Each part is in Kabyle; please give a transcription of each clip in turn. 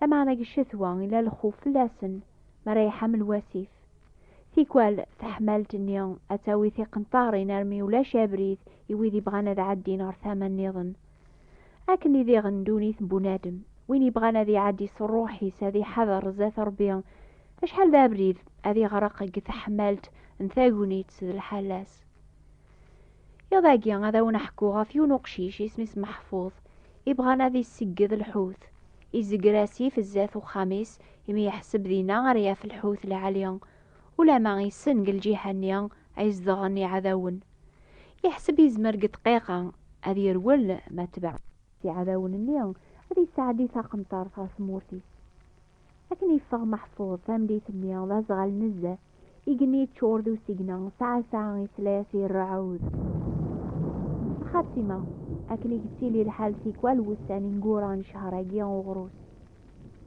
Lameɛna deg ccetwa yella lxuf fell-asen mi ara iḥamel wasif. Tikwal taḥmalt-nni ad tawi tiqenṭarin armi ulac abrid i wid yebɣan ad ɛeddin ɣer tama nniḍen. Akken i diɣen ddunit n bunadem, win yebɣan ad iɛeddi s rruḥ-is ad iḥader zdat Rebbi acḥal d abrid ad iɣreq deg teḥmalt n tagnit d lḥala-s. Iḍ agi ad awen-ḥkuɣ ɣef yiwen uqcic isem-is Meḥfuḍ, ibɣan ad issegged lḥut. Izegger asif zdat uxxam-is, imi yeḥseb dinna ara yaf lḥut lɛali. Ulama issen deg lǧiha-nni ay zedɣen yiɛdawen. Yeḥseb yezmer deg ddqiqa ad yerwel ma tbeɛ. Iɛdawen-nni ad yesɛeddi taqenṭert ɣer tmurt-is. Akken yeffeɣ Meḥfuḍ tameddit-nni d aẓɣal nezzeh. Igenni yeččur d usigna, tɛassa isla-as irreɛɛud. Xatima, akken i yettili lḥal tikwal wussan ineggura n ccehṛ-agi uɣrus.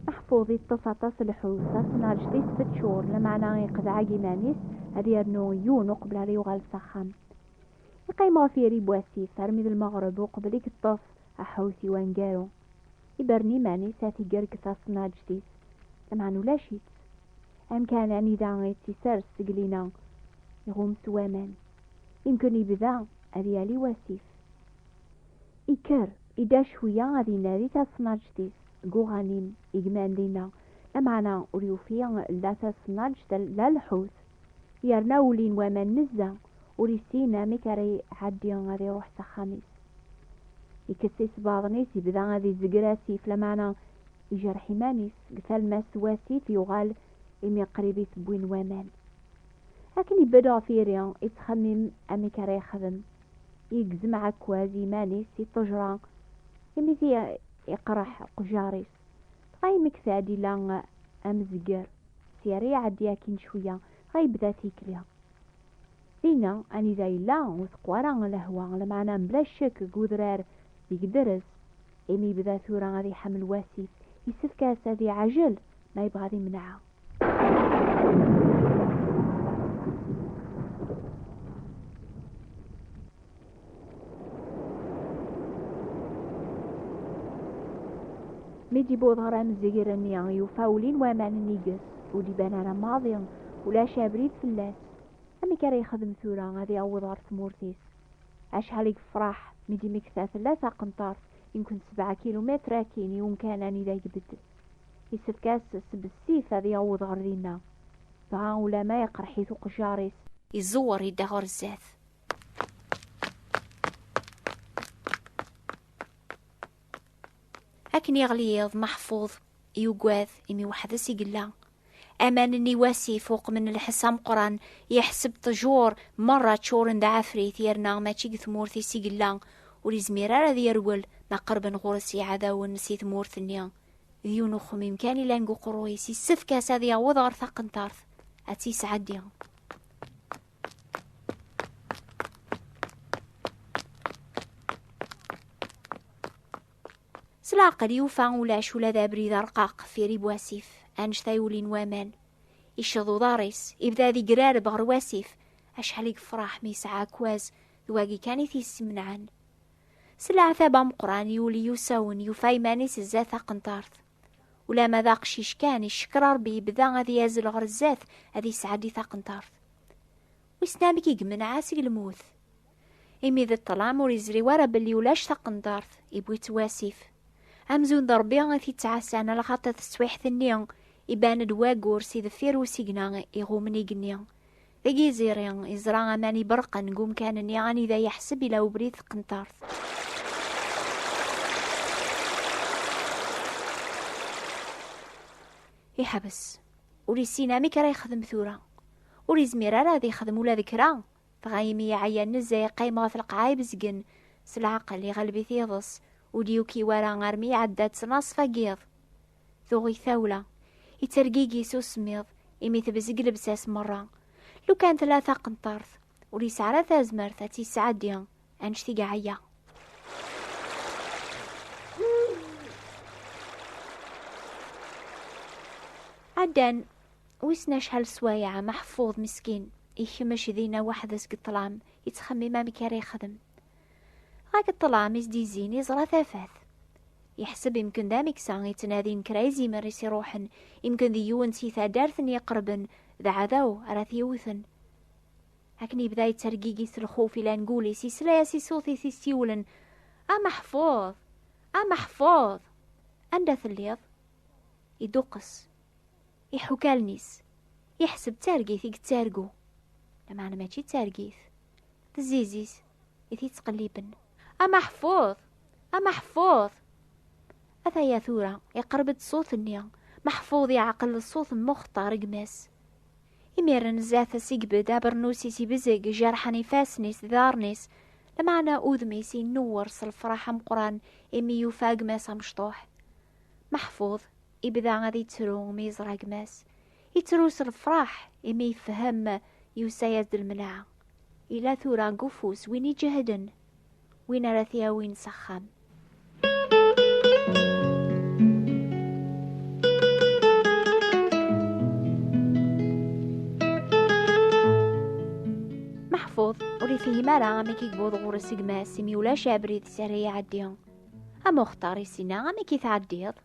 Meḥfuḍ iṭṭef aṭas lḥut, tasnarǧet-is teččur, lameɛna iqeḍɛeg iman-is ad yernu yiwen uqbel ara yuɣal s axxam. Iqqim ɣef yiri n wasif armi d lmeɣreb uqbel i yeṭṭef aḥut i wangaru. Iberen iman-is ad t-iger deg tasnarǧet-is, lameɛna ulac-itt. Amkan anida i tt-isers seg lina iɣum s waman, imken yebda ad yali wasif. Ikker, idda cwiya ad inadi tasnaǧt-is deg uɣanim i gman dinna, lameɛna ur yufi la tasnaǧt la lḥut, yerna ulin waman nezza, ur issin amek ara iɛeddi ad iruḥ s axxam-is. Ikess isebbaḍen-is, yebda ad izegger asif, lameɛna ijerreḥ iman-is. deg talmast wasif yuɣal imi qrib i t-wwin waman. Akken ibedd ɣef yiri, ittxemmim amek ara yexdem, yegzem ɛekkaz iman-is si ṭṭejra imi ti iqreḥ uqjar-is, dɣa yemmekta-d ila amezger, si ara iɛeddi akkin cwiya, dɣa yebda tikli. Dinna anida yella ur teqqu ara lehwa, lameɛna mebla ccek deg udrar Deg drez, imi yebda tura ad iḥemmel wasif, yessefk-as ad iɛajel ma yebɣa ad imneɛ. Mi d-yewweḍ ɣer amzegr-nni, yufa ulin waman nnig-s, ur d-iban ara maḍi, ulac abrid fell-as. Amek ara yexdem tura ad yaweḍ ɣer tmurt-is? Acḥal i yefraḥ mi d-imekta tella taqenṭart i nekent sebɛa kilumitr akkin i umkan anida i ibeddel. Isefk-as s bessif ad yaweḍ ɣer dinna. Dɣa ulamma iqerreḥ-it uqejjar-is. Izewwer yedda ɣer zdat. Akken yeɣli yiḍ, Maḥfud yugad imi weḥd-s i yella. Aman-nni wasif uqmen lḥess ameqqran, yeḥseb ṭjur merra ččuren d ɛafrit yerna mačči deg tmurt-is i yella, ur izmir ara ad yerwel ma qerben ɣur-s yiɛdawen si tmurt-nni. D yiwen uxemmim kan ilan deg uqerruy-is, yessefk-as ad yaweḍ ɣer taqentart, ad tt-yesɛeddi. S leɛqel yufa ulac ula d abrid arqaq fir i wasif, anect ay ulin waman. Icceḍ uḍar-is, ibda ad igrareb ɣer wasif, acḥal i yefṛeḥ mi yesɛa akwaz, d wagi kan i t-yessemneɛen. S leɛtab ameqran yuli usawen, yufa iman-is zdat taqenṭart. Ulama d aqcic kan, iccekker Ṛebbi yebda ad yazzel ɣer zdat, ad yesɛeddi taqenṭart. Wissen amek i yemneɛ seg lmut? imi d ṭṭlam ur yezri wara belli ulac taqendart, iwwi-tt wasif. Amzun d Ṛebbi i t-ittɛassan a lxaṭi teswiḥt-nni, iban-d wayyur si deffir usigna iɣummen igenni. Deg yiẓiri, yeẓra aman iberrqen deg umkan-nni anida yeḥseb ila ubrid tqentart. Iḥbes. Ur yessin amek ara yexdem tura. Ur yezmir ara ad yexdem ula d kra, Dɣa imi yeɛya nezzeh iqqim ɣef lqaɛa ibezgen, s leɛqel iɣelb-it iḍes, ur d-yuki wara armi iɛedda-d ttnaṣfa n yiḍ. Tuɣ-it tawla, ittergigi s usemmiḍ imi tebzeg lebsa-s merra. Lukan tella taqenṭert, ur yesɛi ara tazmert ad tt-yesɛeddi anect i iɛeyya. Ɛeddan Wissen acḥal sswayeɛ Meḥfuḍ meskin ikmec dinna weḥd-s deg ṭṭlam, yettxemmim amek ara yexdem. Dɣa deg ṭṭlam i s-d-yezzin yeẓra tafat. Yeḥseb imken d amiksa yettnadin kra izimer i s-iruḥen, imken d yiwen si taddart n yiqerben d aɛdaw ara t-yewwten. Akken yebda yettergigi s lxuf ilan gul-is yesla-as i ṣṣut i t-issiwlen, A Meḥfuḍ! A Meḥfuḍ! Anda telliḍ? Iduqqes. Iḥukalen-is, yeḥseb d targit i yettargu, lameɛna mačči d targit, d zzizis i t-yettqelliben. A Maḥfuḍ! A Maḥfuḍ! Ataya tura, iqerreb-d ṣṣut-nni, Maḥfuḍ yeɛqel d ṣṣut n Muxtar gma-s. Imiren zdat-s igbed, abernus-is ibzeg, jerḥen ifassen-is d iḍarren-is, lameɛna udem-is inewwer s lefraḥ ameqqran imi yufa gma-s amecṭuḥ. Meḥfuḍ ibda ad yettru mi yeẓra gma-s. Yettru s lefraḥ imi yefhem yusa-yas-d lmenɛa. Yella tura deg ufus win iǧehden, win ara t-yawin s axxam. Meḥfuḍ ur ifehhem ara amek i yewweḍ ɣur-s gma-s imi ulac abrid s ara iɛeddi. A Muxtar i sina amek i tɛeddiḍ?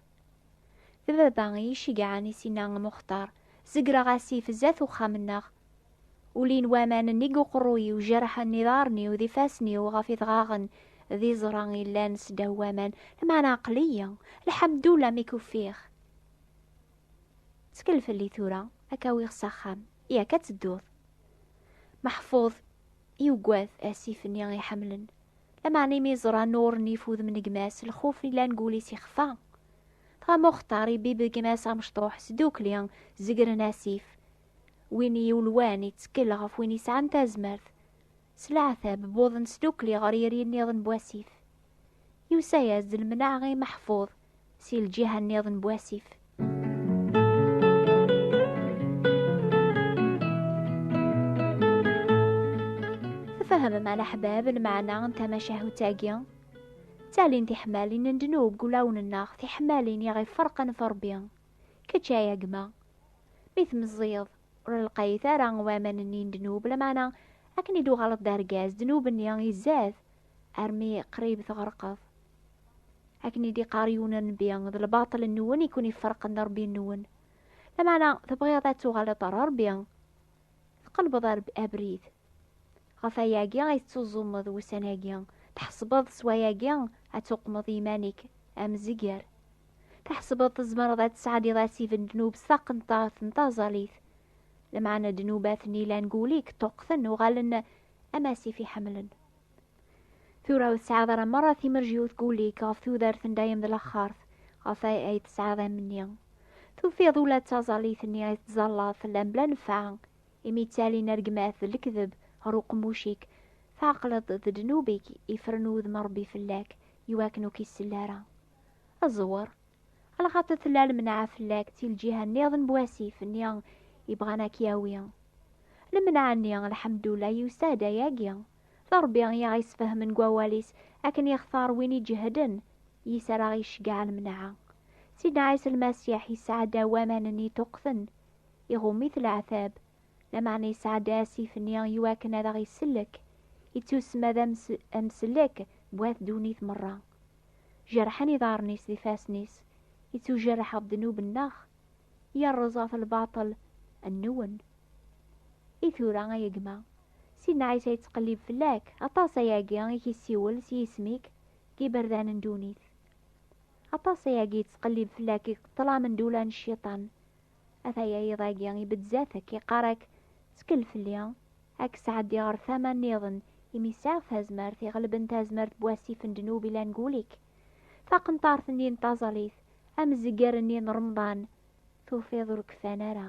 D baba i yi-ceggɛen i sina a Muxtar, zegreɣ asif zdat uxxam-nneɣ. Ulin waman nnig uqerruy-iw, jerḥen iḍarren-iw d ifassen-iw ɣef idɣaɣen d iẓra i llan sdaw waman, lmeɛna aql-iyi, lḥemdullah mi k-ufiɣ. Ttkel fell-i tura, ad k-awiɣ s axxam, yak ad tedduḍ. Meḥfud yuggad asif-nni i ḥemmlen, Lameɛna imi yeẓra Nuṛ n ifudem n gma-s, lxuf yellan deg wul-is ixfa. Dɣa Muxtar ibibb deg gma-s amecṭuḥ, sdukli zegren asif. Win i yulwan iţekkel ɣef win yesɛan tazmert. S leɛtab, wwḍen sdukli ɣer yiri-nniḍen n wasif. Yusa-yas-d lemneɛ i Meḥfuḍ. si lǧiha nniḍen bu asif. Tfehmem a leḥbab lmeɛna n tamacahut-agi? Ttalin tiḥmalin n ddnub deg ulawen-nneɣ, tiḥmalin i ɣ-iferqen f Ṛebbi. Kečč ay agma, mi tmeẓẓiyeḍ, ur lqayit ara waman-nni n ddnub, lameɛna akken i d-tuɣaleḍ d argaz, ddnub-nni izad armi qrib tɣerqeḍ. akken i d-iqqar yiwen nnbi d lbaṭel nwen i ken-iferqen d rebbi nwen lameɛna tebɣiḍ ad tuɣaleḍ ɣer rebbi tqelbeḍ abrid ɣef ayagi ay tettuẓumeḍ wussan-agi tḥesbeḍ s wayagi ad tuqmeḍ iman-ik amezger tḥesbeḍ tzemreḍ ad tesɛeddiḍ asif n ddnub s taqenṭart n taẓalit lameɛna ddnubat-nni lan guli-k ṭṭuqten uɣalen am asif iḥemmlen Tura ur tesɛiḍ ara merra timerjiwt guli-k ɣef tudert n dayem d laxxart ɣef ay ay tesɛiḍ amni. Tufiḍ ula d taẓallit-nni ay tettẓallaḍ tella mebla nnfeɛ, imi ttalin rregmat d lekdeb ɣer uqemmuc-ik, tɛeqleḍ d ddnub-ik ifren wudem n Rebbi fell-ak, iwakken ur k-isell ara. Aẓwer, alxaṭer tella lemneɛ fell-ak si lǧiha nniḍen n wasif-nni ibɣan ad k-yawi. Lemneɛ-nni, lḥemdullah, yusa-d ayagi. D Ṛebbi i aɣ-isfehmen deg wawal-is, akken yextar win iǧehden, yis-areɣ iceggeɛ lemneɛ. Sidna Ɛisa Lmasiḥ yesɛa-d awaman-nni ṭuqten, iɣumm-it leɛtab, lameɛna yesɛa-d asif-nni i wakken ad aɣ-isellek, ittusemma d amsellek n wat ddunit merra. Jerḥen iḍarren-is d ifassen-is, ittujerreḥ ɣef ddnub-nneɣ, yerreẓ ɣef lbaṭel nwen. I tura, ay gma. Sidna Ɛisa yettqellib fell-ak, aṭas ayagi i k-yessiwel s yisem-ik deg yiberdan n ddunit. Aṭas ayagi yettqellib fell-ak deg ṭṭlam n dula n cciṭan. Ataya yiḍ-agi ibeddez-ak, iqqar-ak, ttkel fell-i, ad k-sɛeddiɣ ɣer tama nniḍen, imi sɛiɣ tazmert iɣelben tazmert n wasif n ddnub ilan deg wul-ik. Taqenṭart-nni n taẓalit, amzegger-nni n remḍan, tufiḍ ur kfan ara.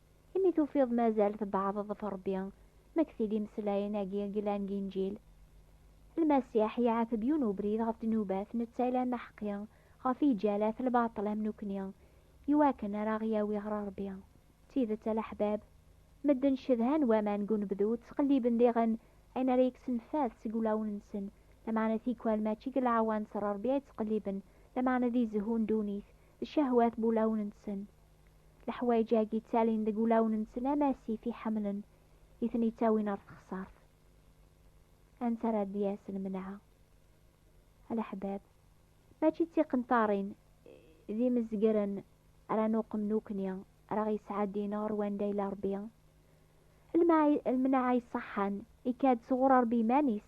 Imi tufiḍ mazal tbeɛdeḍ ɣef Rebbi, ma kkes-id imeslayen-agi i yellan deg Inǧil. Lmasiḥ iɛetb yiwen ubrid ɣef ddnubat, netta yellan d aḥeqqi, ɣef yiǧalat, lbaṭel am nekkni, i wakken ara aɣ-yawi ɣer Rebbi. D tidet a leḥbab, medden cedhan waman deg unebdu, ttqelliben diɣen ayen ara yekksen fad seg ulawen-nsen, lameɛna tikwal mačči deg leɛwanser n Rebbi ay ttqelliben, lameɛna di zzhu n ddunit, d cehwat n wulawen-nsen. Leḥwayeǧ-agi ttalin deg wulawen-nsen am asif i ḥemmlen i ten-ittawin ɣer texsart. Anta ara d-yas lmenɛa? A leḥbab, mačči d tiqenṭarin d imezgren ara nuqem nukni ara ɣ-yesɛeddin ɣer wanda yella Rebbi. Lmenɛa iṣeḥḥan ikka-d sɣur Rebbi iman-is.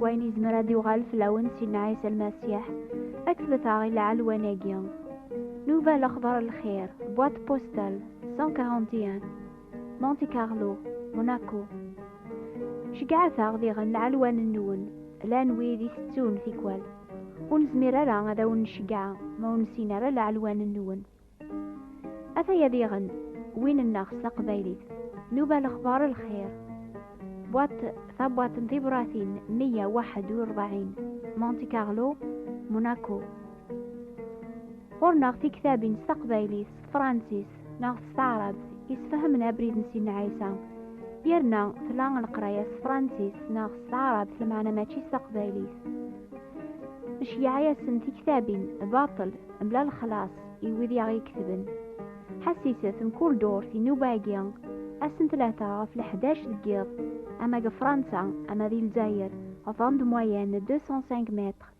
wayen yezmer ad yuɣal fell-awen Sidna Ɛisa Lmasiḥ ad k-tlet-aɣ i lɛelwan-agi. Nuba lexbar lxir, boîte postale 141. Monte Carlo, Monaco. Ceggɛet-aɣ diɣen lɛelwan-nwen, llan wid i tettun tikwal. Ur nezmir ara ad awen-nceggɛa ma ur nessin ara lɛelwan-nwen. Ataya diɣen win-nneɣ s taqbaylit, nuba lexbar lxir. Bwaṭ tabwaṭ n tibṛatin 141, Monte Carlo, Monaco. Ɣur-neɣ tiktabin s taqbaylit, s tefransist, neɣ s taɛrabt yesfahamen abrid n Sidna Ɛisa yerna tla leqraya s tefransist neɣ s taɛrabt lmeɛna mačči s taqbaylit neceyyeɛ-asen tiktabin baṭel mebla lexlaṣ i wid i aɣ-iketben ḥassiset mkul durt inuba-agi assen tlata ɣef leḥdac deg yiḍ ama deg Fransa ama di Lezzayer ɣef rond moyenne 205 mètres